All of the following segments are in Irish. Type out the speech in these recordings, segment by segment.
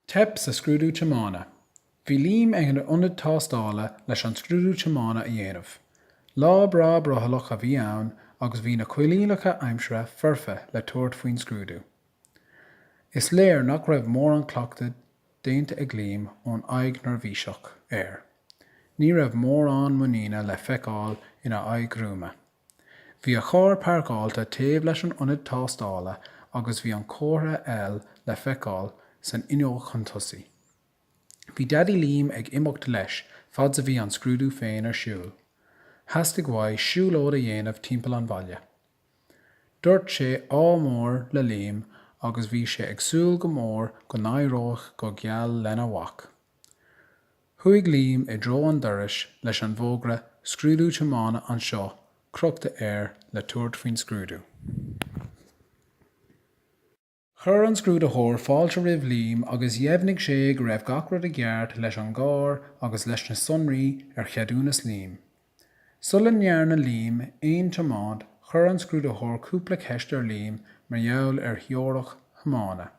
Teip sa scrúdú tiomána. Bhí Liam ag an ionad tástála leis an scrúdú tiomána a dhéanamh. Lá breá brothallach a bhí ann agus bhí na coinníollacha aimsire foirfe le tabhairt faoin scrúdú. Is léir nach raibh mórán cleachtaidh déanta ag Liam ón aghaidh neirbhíseach air. Ní raibh mórán muiníne le feiceáil ina aghaidh ghruama. Bhí a charr pairceáilte taobh leis an ionad tástála agus bhí an comhartha L le feiceáil san fhuinneog chun tosaigh. Bhí Daidí Liam ag imeacht leis fad 's a bhí an scrúdú féin ar siúl. Theastaigh uaidh siúlóid a dhéanamh timpeall an bhaile. Dúirt sé Ádh mór le Liam agus bhí sé ag súil go mór go n-éireodh go geal lena mhac. Chuaigh Liam i dtreo an dorais leis an bhfógra Scrúdú Tiomána Anseo crochta air le tabhairt faoin scrúdú. Chuir an scrúdaitheoir fáilte roimh Liam agus dheimhnigh sé go raibh gach rud i gceart leis an gcarr agus leis na sonraí ar cheadúnas Liam. Sula ndearna Liam aon tiomáint, chuir an scrúdaitheoir cúpla ceist ar Liam mar gheall ar theoiric thiomána.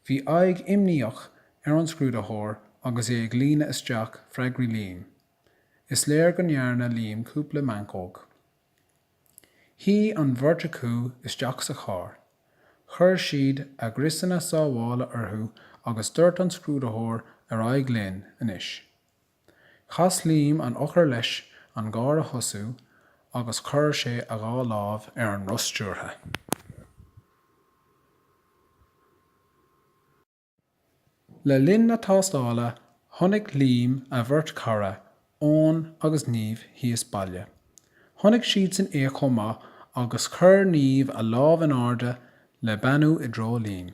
Bhí aghaidh imníoch ar an scrúdaitheoir agus é ag líonadh isteach freagraí Liam. Is léir go ndearna Liam cúpla meancóg. Shuigh an bheirt acu isteach sa charr, chuir siad a gcriosanna sábhála orthu agus dúirt an scrúdaitheoir 'ar aghaidh linn anois'. Chas Liam an eochair leis an gcarr a thosú agus chuir sé a dhá lámh ar an roth stiúrtha. Le linn na tástála, chonaic Liam a bheirt chara, Eoin agus Niamh, thíos baile. Chonaic siadsan é chomh maith agus chuir Niamh a lámh in airde le beannú i dtreo Liam.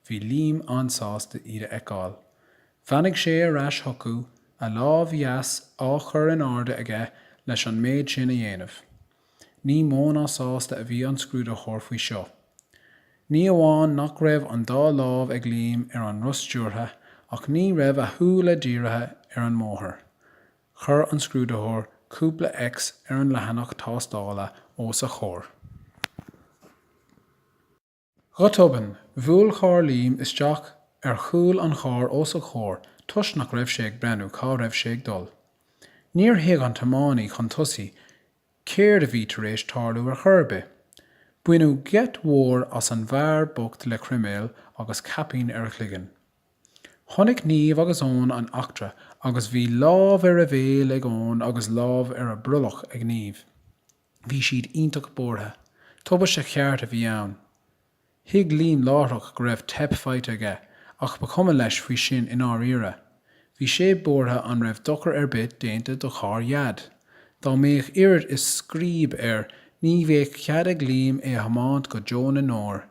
Bhí Liam an-sásta iad a fheiceáil. Bheannaigh sé ar ais chucu, a lámh dheas á chur in airde aige leis an méid sin a dhéanamh. Ní mó ná sásta a bhí an scrúdaitheoir faoi seo. Ní amháin nach raibh an dá lámh ag Liam ar an roth stiúrtha ach ní raibh a shúile dírithe ar an mbóthar. Chuir an scrúdaitheoir cúpla X ar an leathanach tástála os a chomhair. Go tobann, bhuail carr Liam isteach ar chúl an chairr os a chomhair toisc nach raibh sé ag breathnú cá raibh sé ag dul. Níor thuig an tiománaí chun tosaigh céard a bhí tar éis tarlú ar chor ar bith. Baineadh geit mhór as an bhfear bocht le croiméal agus caipín ar a chloigeann. Chonaic Niamh agus Eoin an eachtra agus bhí lámh ar a bhéal ag Eoin agus lámh ar a brollach ag Niamh. Bhí siad iontach buartha. Tubaiste cheart a bhí ann. Thuig Liam láithreach go raibh teip faighte aige ach ba chuma leis faoi sin i ndáiríre. Bhí sé buartha an raibh dochar ar bith déanta do charr Dhaid. Dá mbeadh oiread is scríob air ní bheadh cead ag Liam é a thiomáint go deo na ndeor.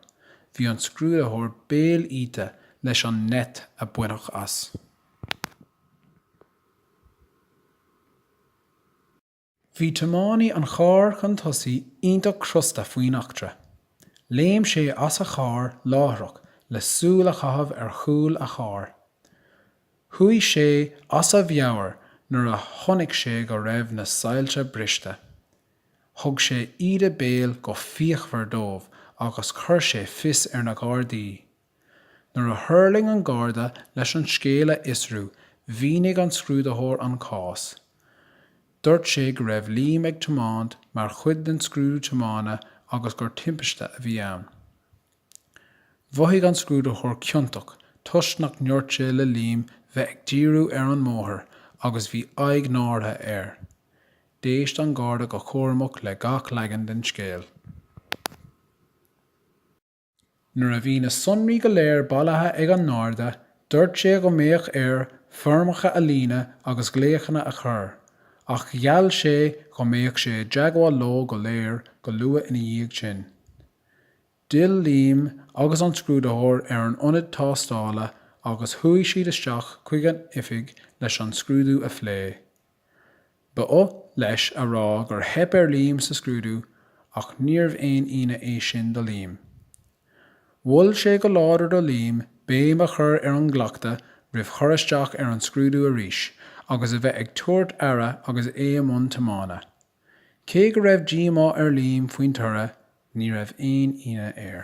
Bhí an scrúdaitheoir béal iata leis an ngeit a baineadh as. Bhí tiománaí an chairr chun tosaigh iontach crosta faoin eachtra. Léim sé as a charr láithreach le súil a chaitheamh ar chúl a chairr. Chuaigh sé as a mheabhair nuair a chonaic sé go raibh na soilse briste. Thug sé íde béil go fíochmhar dóibh agus chuir sé fios ar na Gardaí. Nuair a thuirling an Garda leis an scéal a fhiosrú, mhínigh an scrúdaitheoir an cás. Dúirt sé go raibh Liam ag tiomáint mar chuid den scrúdú tiomána agus gur timpiste a bhí ann. Mhothaigh an scrúdaitheoir ciontach toisc nach ndúirt sé le Liam bheith ag díriú ar an mbóthar agus bhí aghaidh náirithe air. D'éist an Garda go cúramach le gach leagan den scéal. Nuair a bhí na sonraí go léir bailithe ag an nGarda, dúirt sé go mbeadh air foirmeacha a líonadh agus glaochanna a chur, ach gheall sé go mbeadh sé i dteagmháil leo go léir go luath ina dhiaidh sin. D'fhill Liam agus an scrúdaitheoir ar an ionad tástála agus chuaigh siad isteach chuig an oifig leis an scrúdú a phlé. Ba oth leis a rá gur theip ar Liam sa scrúdú ach níorbh aon ionadh é sin do Liam. Mhol sé go láidir do Liam béim a chur ar an gcleachtadh roimh chur isteach ar an scrúdú arís agus a bheith ag tabhairt aire agus é i mbun tiomána. Cé go raibh díomá ar Liam faoin toradh, ní raibh aon ionadh air.